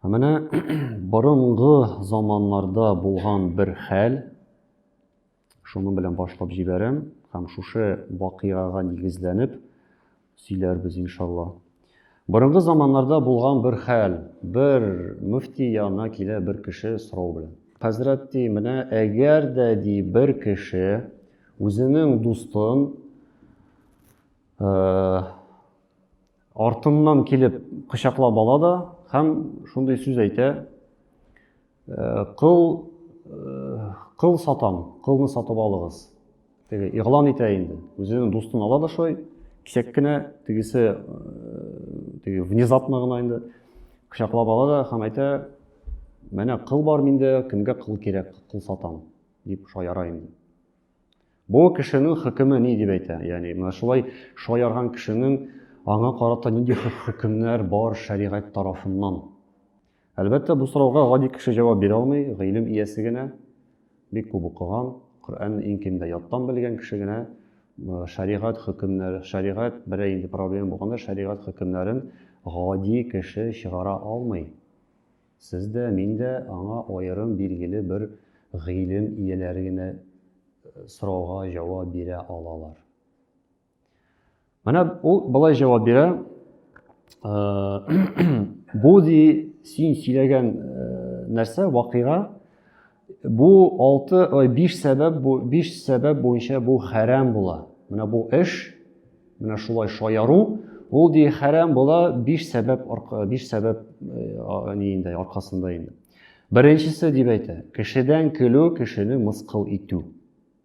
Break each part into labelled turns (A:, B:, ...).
A: Менә борынгы заманнарда булган бер хәл, шуның белән башлап җибәрәм һәм шушы вакыйгага нигезләнеп сөйләрбез иншалла. Борынгы заманнарда булган бер хәл, бер мөфти янына килә бер кеше сорау белән. Хәзрәт ди, менә әгәр дә ди бер кеше үзенең дустын э, Артыннан килеп кочаклап ала да һәм шундый сүз әйтә, э, кыл, э, кыл сатам, кылны сатып алыгыз. Теге игълан итә инде. Үзенең дустын ала да шулай, кисәк кенә, тегесе э, теге внезапно гына инде кочаклап ала да һәм әйтә, менә кыл бар миндә, кемгә кыл кирәк, кыл сатам, дип шаяра инде. Бу кешенең хөкеме ни дип әйтә? Ягъни менә шулай шаярган кешенең аңа карата нинди хөкемнәр бар шәригать тарафыннан? Әлбәттә, бу сорауга гади кеше җавап бирә алмый, гыйлем иясе генә, бик күп укыган, Коръәнне иң кимдә яттан белгән кеше генә э, шәригать хөкемнәре, шәригать берәр инде проблема булганда шәригать хөкемнәрен гади кеше чыгара алмый. Сез дә, мин дә аңа аерым билгеле бер гыйлем ияләре генә сорауга җавап бирә алалар. Менә ул болай җавап бирә, бу ди син сөйләгән нәрсә, вакыйга, Бу алты, ой, биш сәбәп, бу биш сәбәп буенча бу хәрәм була. Менә бу эш, менә шулай шаяру, ул ди хәрәм була биш сәбәп, биш сәбәп э, ни инде, аркасында инде. Беренчесе дип әйтә, кешедән көлү, кешене мыскыл итү.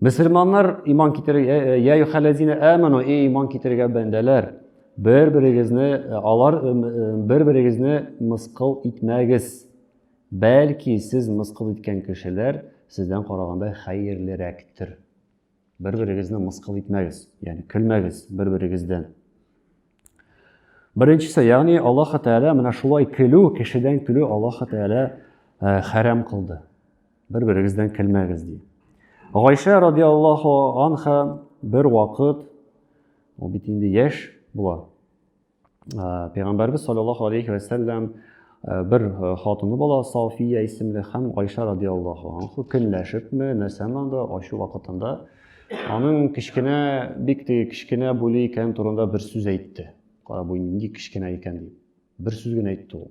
A: Мөселманнар иман китерергә, «Э, э, я юхалазина аману, и иман китерергә бәндәләр, бер-берегезне э, алар бер-берегезне мыскыл итмәгез. Бәлки сез мыскыл иткән кешеләр сездән караганда хәерлерәктер. Бер-берегезне мыскыл итмәгез, ягъни көлмәгез бер-берегездән. Беренчесе, ягъни Аллаһ Тәгалә менә шулай көлү, кешедән көлү Аллаһ Тәгалә хәрам кылды. Бер берегездән көлмәгез ди. Гайшә радиаллаху анха бер вакыт ул бит инде яшь була. Ә, Пәйгамбәрбез саллаллаху алейхи ва саллям ә, бер ә, хатыны була Сафия исемле һәм Гайшә радиаллаху анха көнләшепме, нәрсәме анда ачу вакытында аның кечкенә бик теге кечкенә буйлы икән турында бер сүз әйтте. Кара бу нинди кечкенә икән дип. Бер сүз генә әйтте ул.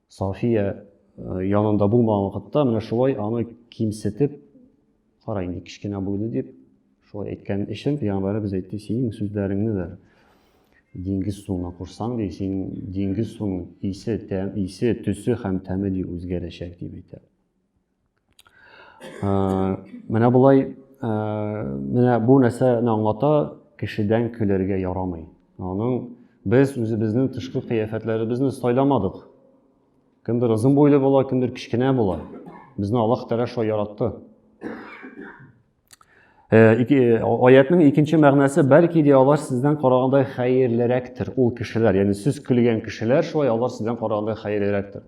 A: Сафия э, янында булмаган вакытта менә шулай аны кимсетеп, кара инде кечкенә буйлы дип, шулай әйткән өчен пәйгамбәребез әйтте, синең сүзләреңне дә диңгез суына кушсаң ди син диңгез суының исе тәм исе төсе һәм тәме ди үзгәрәчәк дип әйтә Менә болай, менә бу нәрсәне аңлата, кешедән көләргә ярамый. Аның без үзебезнең тышкы кыяфәтләребезне сайламадык. Кемдер озын буйлы була, кемдер кечкенә була. Безне Аллаһ Тәгалә шулай яратты. Аятның икенче мәгънәсе бәлки дә алар сездән караганда хәерлерәктер, ул кешеләр, ягъни сүз көлгән кешеләр шулай алар сездән караганда хәерлерәктер.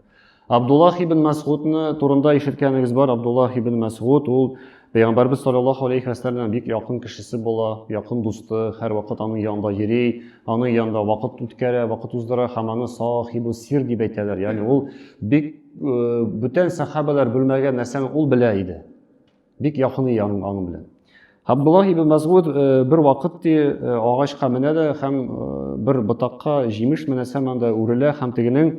A: Абдуллах ибн Мәсгудны турында ишеткәнегез бар, Абдуллах ибн Мәсгуд ул Пәйгамбәрбез саллаллаху алейхи вәсәлләм бик якын кешесе була, якын дусты, һәр вакыт аның янында йөри, аның янында вакыт үткәрә, вакыт уздыра һәм аны сахибу сир дип әйтәләр. Ягъни ул бик бүтән сахабалар белмәгән нәрсәне ул белә иде. Бик якын ия аның аңы белән. Абдуллах ибн Мәсгуд э, бер вакыт ди э, агачка менә дә һәм э, бер ботакка җимеш менә һәм анда үрелә һәм тегенең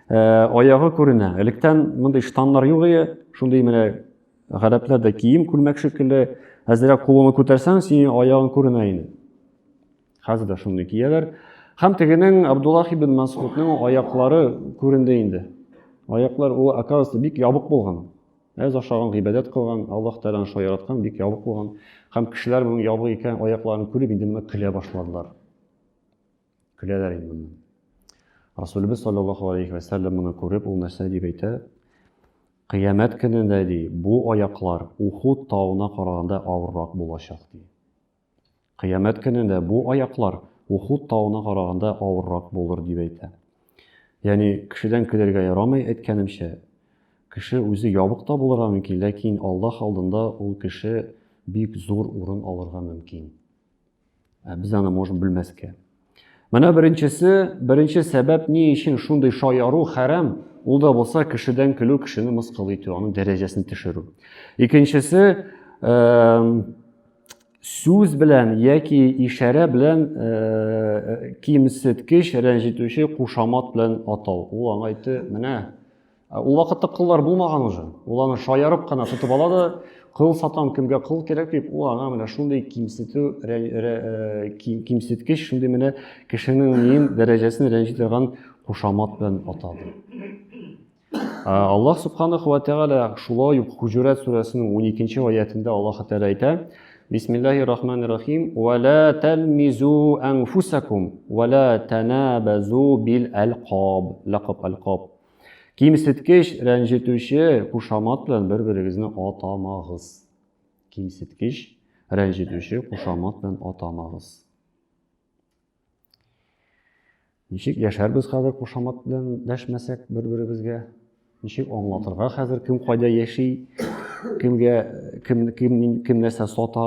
A: аягы күренә. Электән мондый штаннар юк иде, шундый менә гарәпләрдә кием күлмәк шикелле, әзрәк кулыңны күтәрсәң, синең аягың күренә иде. Хәзер дә шундый кияләр. Һәм тегенең Абдуллах ибн Мәсгудның аяклары күренде инде. Аяклар ул оказывается бик ябык булган. Әз ашаган, гыйбадәт кылган, Аллаһ Тәгаләнең шулай яраткан, бик ябык булган. Һәм кешеләр моның ябык икән, аякларын күреп, инде моны көлә башладылар. Көләләр инде моны. Расулебез саллаллаһу алейхи ва сәлләм моны күреп, ул нәрсә дип әйтә? Кыямәт көнендә ди, бу аяклар Ухуд тауына караганда авыррак булачак ди. Кыямәт көнендә бу аяклар Ухуд тавына караганда авыррак булыр, дип әйтә. Ягъни, кешедән көләргә ярамый, әйткәнемчә. Кеше үзе ябык та булырга мөмкин, ләкин Аллаһ алдында ул кеше бик зур урын алырга мөмкин. Ә без аны можем белмәскә. Менә беренчесе, беренче сәбәп ни өчен шундый шаяру хәрам, ул да булса кешедән көлү, кешене мыскыл итү, аның дәрәҗәсен төшерү. Икенчесе, сүз белән яки ишарә белән кимсеткеч, рәнҗетүче кушамат белән атау. Ул аңа әйтте, менә Ул вакытта кыллар булмаган уже. Ул аны шаярып кына тотып ала да, кыл сатам, кемгә кыл кирәк дип, ул аңа менә шундый кимсетү, э, кимсеткеч, шундый менә кешенең мин дәрәҗәсен рәнҗи торган кушамат белән атады. Аллаһ субханаху ва тәгалә шулай ук Хуҗурат сүрәсенең 12-нче аятында Аллаһ Тәгалә әйтә: Бисмиллахи рахмани рахим. Ва ла талмизу анфусакум ва ла танабазу бил алкаб. Лакаб алкаб. Кимсеткеч, рәнҗетүче кушамат белән бер-берегезне атамагыз. Кимсеткеч, рәнҗетүче кушамат белән атамагыз. Ничек яшәрбез хәзер кушамат белән дәшмәсәк бер-беребезгә? Ничек аңлатырга хәзер кем кайда яши, кемгә кем кем кем нәрсә сата,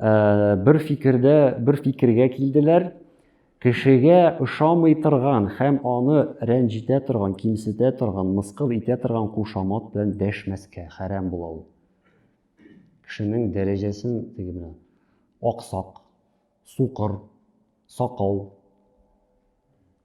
A: Ә, бер фикердә, бер фикергә килделәр. Кешегә ошамый торган һәм аны рәнҗетә торган, кимсетә торган, мыскыл итә торган кушамат белән дәшмәскә хәрәм була ул. Кешенең дәрәҗәсен теге менә аксак, сукыр, сакал,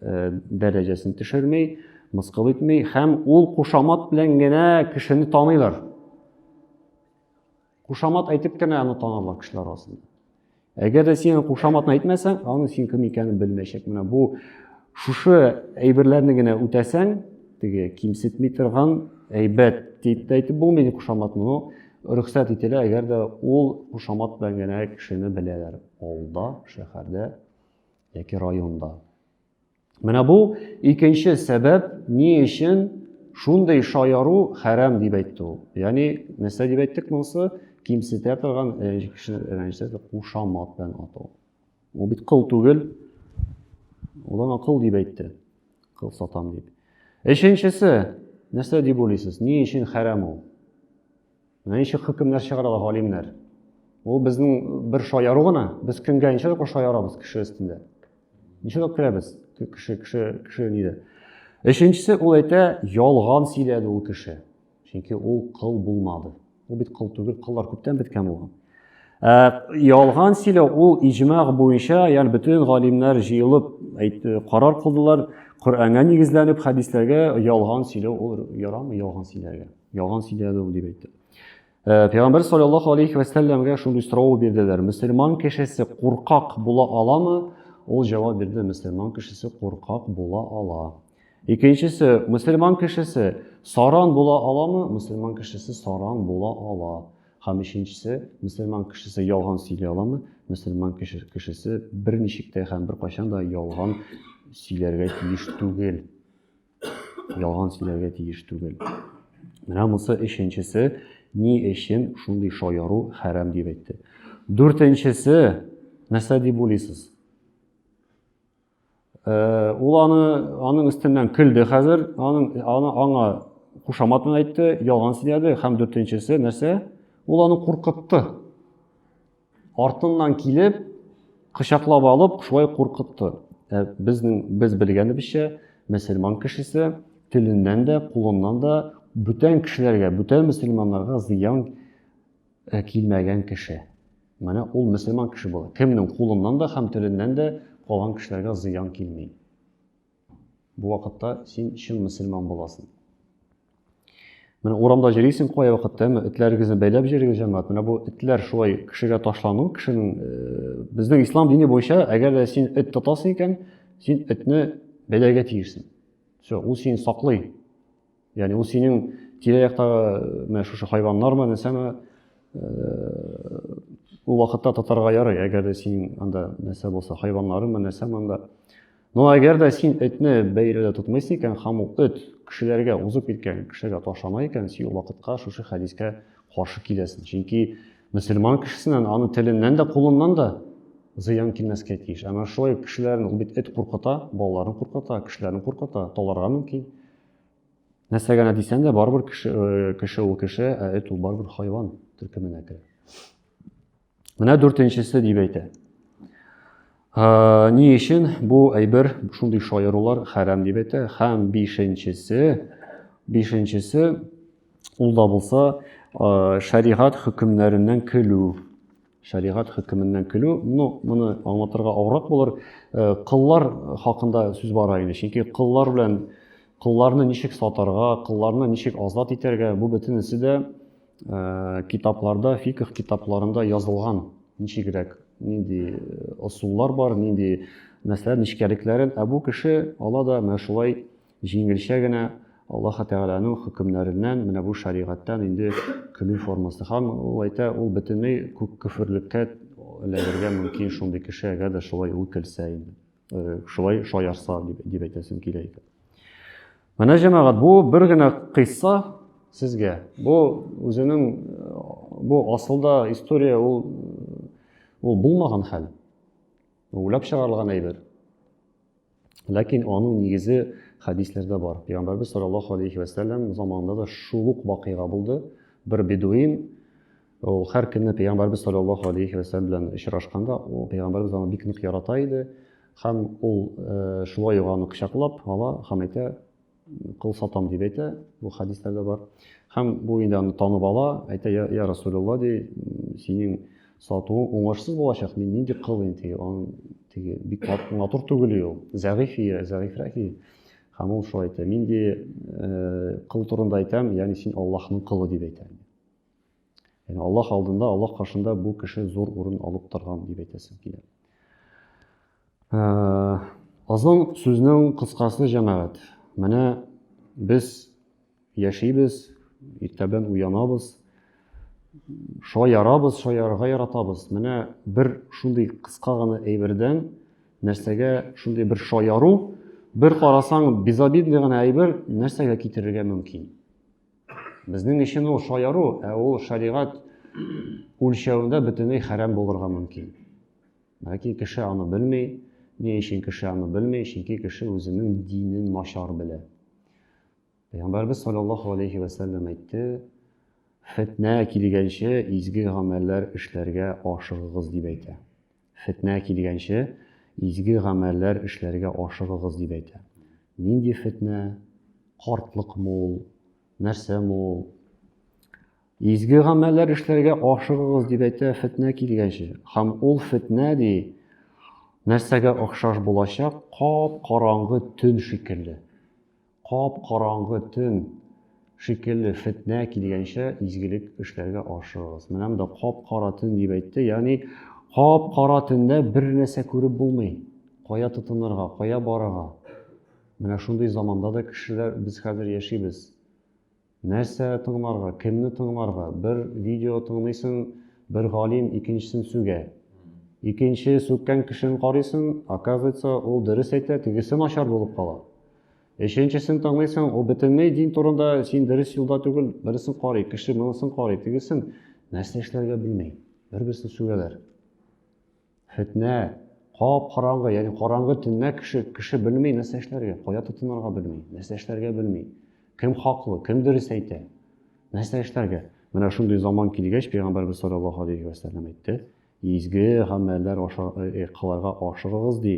A: э, дәрәҗәсен төшерми, мыскыл итми һәм ул кушамат белән генә кешене таныйлар. Кушамат әйтеп кенә аны танарлар кешеләр арасында. Әгәр дә син кушаматны әйтмәсәң, аны син кем икәнен белмәячәк. Менә бу шушы әйберләрне генә үтәсәң, теге кимсетми торган әйбәт дип тә әйтеп булмый ди кушаматны, но рөхсәт ителә, әгәр дә ул кушамат белән генә кешене беләләр. Авылда, шәһәрдә, яки районда. Менә бу икенче сәбәп, ни өчен шундый шаяру хәрам дип әйтте ул. Ягъни, нәрсә дип әйттек монысы? Кимсетә торган кешене рәнҗетә торган кушамат белән атау. Ул бит кыл түгел. Ул аңа кыл дип әйтте. Кыл сатам дип. Өченчесе, нәрсә дип уйлыйсыз? Ни өчен хәрам ул? Менә ничек хөкемнәр чыгара ала галимнәр. Ул безнең бер шаяру гына. Без кемгә ничек тапкыр шаярабыз кеше өстендә? Ничек тапкыр көләбез кеше кеше кеше нидә? Өченчесе ул әйтә, ялган сөйләде ул кеше. Чөнки ул кыл булмады. Ул бит кыл түгел, кыллар күптән беткән булган. Ә, ялган сөйләү ул иҗмаг буенча, ягъни бөтен галимнәр җыелып әйт, карар кылдылар, Коръәнгә нигезләнеп, хәдисләргә ялган сөйләү ул ярамый ялган сөйләргә. Ялган сөйләде ул дип әйтте. Э, Пәйгамбер саллаллаху алейхи ва сәлләмгә шундый сорау бирделәр. Мөселман кешесе куркак була аламы? Ул җавап бирде, мөселман кешесе куркак була ала. Икенчесе, мөселман кешесе саран була аламы? Мөселман кешесе саран була ала. Һәм өченчесе, мөселман кешесе ялган сөйли аламы? Мөселман кешесе берничек тә һәм беркайчан да ялган сөйләргә тиеш түгел. ялган сөйләргә тиеш түгел. Менә монысы өченчесе, ни өчен шундый шаяру хәрам дип әйтте. Дүртенчесе, нәрсә дип уйлыйсыз? Э, ул аны аның өстеннән көлде хәзер, аның аны аңа кушамат әйтте, ялган сөйләде һәм дүртенчесе нәрсә? Ул аны куркытты. Артыннан килеп, кочаклап алып, шулай куркытты. Ә безнең без белгәнебезчә, мөселман кешесе теленнән дә, кулыннан да бүтән кешеләргә, бүтән мөселманнарга зыян э, килмәгән кеше. Менә ул мөселман кеше була. Кемнең кулыннан да һәм теленнән дә калган кешеләргә зыян килми. Бу вакытта син чын мөселман буласың. Менә урамда җөрисең кая вакытта, әмма этләрегезне бәйләп җөрегез, җәмәгать. Менә бу этләр шулай кешегә ташлану, кешенең э, безнең ислам дине буенча, әгәр дә син эт тотасың икән, син этне бәйләргә тиешсең. Все, ул сине саклый. Яни ул синең тирә-яктагы э, менә шушы хайваннармы, нәрсәме? Э, ул вакытта татарга ярый, әгәр дә синең анда нәрсә булса, хайваннарымы, нәрсәме анда. Но әгәр дә син этне бәйрәдә тотмыйсың икән, һәм ул эт кешеләргә узып киткән кешегә ташана икән, син ул вакытка шушы хәдискә каршы киләсең. Чөнки мөселман кешесеннән, аны теленнән дә, кулыннан да зыян килмәскә тиеш. Әмма шулай кешеләрне ул бит эт куркыта, балаларын куркыта, кешеләрне куркыта, таларга мөмкин. Нәрсә генә дисәң дә, барыбер кеше, э, кеше ул кеше, ә эт ул барыбер хайван төркеменә керә. Менә дүртенчесе дип әйтә. Ә, ни өчен бу әйбер шундый шаярулар хәрам дип әйтә? Һәм бишенчесе, бишенчесе ул да булса, ә, шәригать хөкемнәреннән көлү. Шәригать хөкеменнән көлү, ну, моны аңлатырга авыррак булыр. Э, кыллар хакында сүз бара инде, чөнки кыллар белән кылларны ничек сатарга, кылларны ничек азат итәргә, бу бөтенесе дә э, китапларда, фикх китапларында язылган. Ничегрәк, нинди ысуллар э, бар, нинди мәсьәлә нечкәлекләрен, ә бу кеше ала да менә шулай Җиңелчә генә Аллаһы Тәгаләнең хөкемнәреннән менә бу шәригатьтән инде көлү формасы. Һәм ул әйтә, ул бөтенләй күк көферлеккә эләгергә мөмкин шундый кеше, әгәр дә шулай ул көлсә инде. Э, шулай шаярса дип, дип әйтәсем килә икән. Менә җәмәгать, бу бер генә кыйсса сезгә. Бу үзенең э, бу асылда история ул ул булмаган хәл. Уйлап чыгарылган әйбер. Ләкин аның нигезе хәдисләрдә бар. Пәйгамбәрбез саллаллаху алейхи ва сәлләм заманында да шул ук вакыйга булды. Бер бедуин ул һәр көнне пәйгамбәрбез саллаллаху алейхи ва сәлләм белән очрашканда, ул пәйгамбәрбез аны бик нык ярата иде. Һәм ул э, шулай ук аны кочаклап ала һәм әйтә, кыл сатам дип әйтә, бу хәдисләрдә бар. Һәм бу инде аны танып ала, әйтә, я, я Расулулла, ди, синең сатуың уңышсыз булачак, мин нинди кыл инде, аның теге бик матур түгел ул, зәгыйфия, зәгыйфрәхи. Һәм ул шулай әйтә, мин ди, э, кыл турында әйтәм, ягъни син Аллаһның кылы дип әйтә. Яни Аллаһ алдында, Аллаһ каршында бу кеше зур урын алып торган дип әйтәсем килә. Э, Азан сүзнең кыскасы җәмәгать. Менә без яшибез, иртәдән уянабыз, шаярабыз, шаярга яратабыз. Менә бер шундый кыска гына әйбердән нәрсәгә шундый бер шаяру, бер карасаң безобидный гына әйбер нәрсәгә китерергә мөмкин. Безнең өчен ул шаяру, ә ул шәригать үлчәвендә бөтенләй хәрәм булырга мөмкин. Ләкин кеше аны белми. Ни өчен кеше аны белми? Чөнки кеше үзенең динен начар белә. Пәйгамбәрбез саллаллаху алейхи ва саллям әйтте: "Фитнә килгәнче изге гамәлләр эшләргә ашыгыгыз" дип әйтә. Фетнә килгәнче, изге гамәлләр эшләргә ашыгыгыз, дип әйтә. Нинди фетнә? Картлыкмы ул? Нәрсәме ул? Изге гамәлләр эшләргә ашыгыгыз, дип әйтә, фетнә килгәнче. Һәм ул фетнә, ди, нәрсәгә охшаш булачак? Кап-караңгы төн шикелле. Кап-караңгы төн шикелле фетнә килгәнчә изгелек эшләргә ашыгыгыз. Менә монда кап-кара төн дип әйтте, ягъни кап-кара төндә бер нәрсә күреп булмый. Кая тотынырга, кая барырга? Менә шундый заманда да кешеләр без хәзер яшибез. Нәрсә тыңларга, кемне тыңларга? Бер видео тыңлыйсың, бер галим икенчесен сүгә. Икенче сүккән кешене карыйсың, оказывается, ул дөрес әйтә, тегесе начар булып кала. Өченчесен тыңлыйсың, ул бөтенләй дин турында син дөрес юлда түгел, берсен карый, кеше монысын карый, тегесен нәрсә эшләргә белми, бер-берсен сүгәләр. Фетнә, кап-караңгы, ягъни караңгы төннә кеше кеше белми нәрсә эшләргә, кая тотынырга белми, нәрсә эшләргә белми. Кем хаклы, кем дөрес әйтә? Нәрсә эшләргә? Менә шундый заман килгәч, пәйгамбәрбез саллаллаһу алейхи ва сәлләм әйтте, изге гамәлләр э, кыларга ашыгыгыз ди.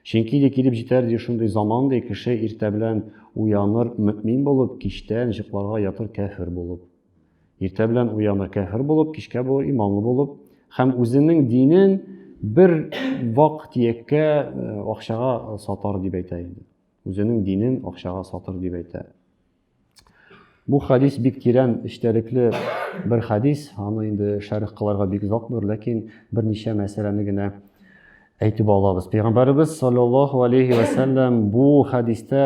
A: Чөнки ди килеп җитәр ди шундый заман ди, кеше иртә белән уяныр мөмин булып, кичтән җыкларга ятыр кәфер булып. Иртә белән уяна кәфер булып, кичкә бу иманлы булып һәм үзенең динен бер вак тияккә э, акчага сатар дип әйтә инде. Үзенең динен акчага сатыр дип әйтә. Бу хадис бик тирән эчтәлекле бер хадис, аны инде шәрх кыларга бик озак булыр, ләкин берничә мәсьәләне генә Әйтеп алабыз. Пәйгамбәребез саллаллаһу алейхи ва саллям бу хәдистә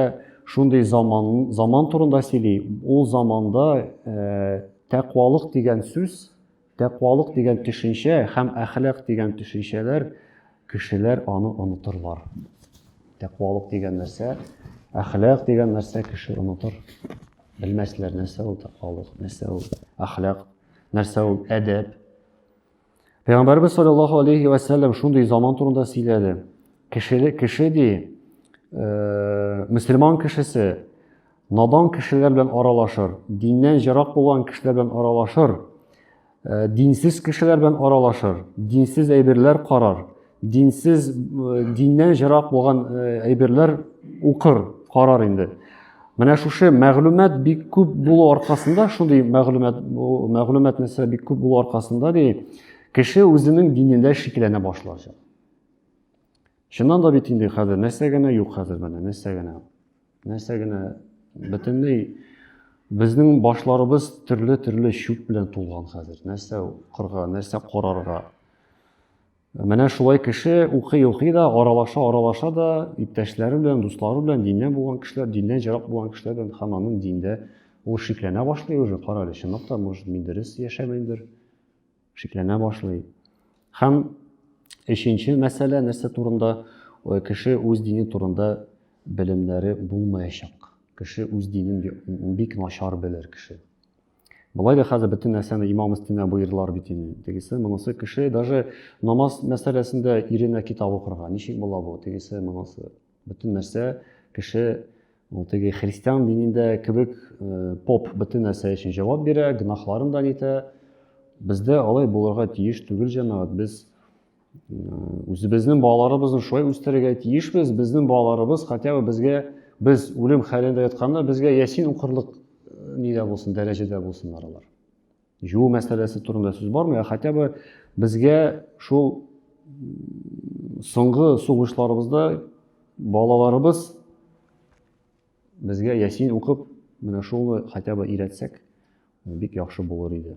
A: шундый заман заман турында сөйли. Ул заманда э, тәкъвалык дигән сүз, тәкъвалык дигән төшенчә һәм әхлак дигән төшенчәләр кешеләр аны онытырлар. Тәкъвалык дигән нәрсә, әхлак дигән нәрсә кеше онытыр. Белмәсләр нәрсә ул тәкъвалык, нәрсә ул әхлак, нәрсә ул әдәп. Пәйгамбәрбез саллаллаһу алейхи ва сәлләм шундый заман турында сөйләде. Кешеле кеше ди, э, мусульман кешесе надан кешеләр белән аралашыр, диннән җырак булган кешеләр белән аралашыр, э, динсез кешеләр белән аралашыр, динсез әйберләр карар, динсез диннән ерак булган әйберләр укыр карар инде менә шушы мәгълүмат бик күп булу аркасында шундый мәгълүмат мәгълүмат нәрсә бик күп булу аркасында ди кеше үзенең динендә шикләнә башлачак чыннан да бит инде хәзер нәрсә генә юк хәзер менә нәрсә генә нәрсә генә бөтенләй безнең башларыбыз төрле төрле чүп белән тулган хәзер нәрсә укырга нәрсә карарга Менә шулай кеше укый-укый да, аралаша-аралаша да, иптәшләре белән, дуслары белән, диннән булган кешеләр, диннән ерак булган кешеләр белән һәм аның диндә ул шикләнә башлый уже, кара әле, чынлап та, может, мин дөрес яшәмәймдер, шикләнә башлый. Һәм өченче мәсьәлә нәрсә турында? Кеше үз дине турында белемнәре булмаячак. Кеше үз динен бик начар белер кеше. Болай да хәзер бөтен нәрсәне имам өстенә боердылар бит инде. Тегесе, монысы кеше даже намаз мәсьәләсендә иренә китап укырга. Ничек була бу? Тегесе, монысы. Бөтен нәрсә кеше ул теге христиан динендә кебек э, поп бөтен нәрсә өчен җавап бирә, гөнаһларын да нитә. Бездә алай булырга тиеш түгел җәмәгать. Без үзебезнең балаларыбызны шулай үстерергә тиешбез безнең балаларыбыз хотя бы безгә без үлем хәлендә ятканда безгә ясин укырлык э, нидә булсын дәрәҗәдә булсыннар алар жуу мәсьәләсе турында сүз бармый ә хотя бы безгә шул соңгы сугышларыбызда балаларыбыз безгә ясин укып менә шуны хотя бы өйрәтсәк бик яхшы булыр иде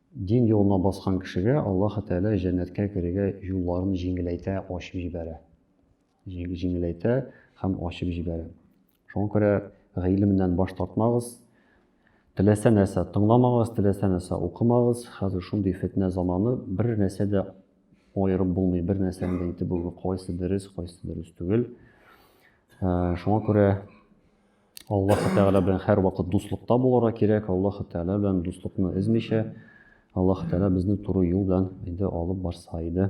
A: Дин юлына баскан кешегә Аллаһы Тәгалә җәннәткә керергә юлларын җиңеләйтә, ачып җибәрә. Җиңеләйтә һәм ачып җибәрә. Шуңа күрә гыйлемнән баш тартмагыз. Теләсә нәрсә тыңламагыз, теләсә нәрсә укымагыз. Хәзер шундый фетнә заманы, бер нәрсә дә аерып булмый, бер нәрсәне дә әйтеп булмый, кайсы дөрес, кайсы дөрес түгел. Шуңа күрә Аллаһы Тәгалә белән һәрвакыт дуслыкта булырга кирәк. Аллаһы Тәгалә белән дуслыкны эзмичә, Аллаһы Тәгалә безне туры юл белән инде алып барса иде.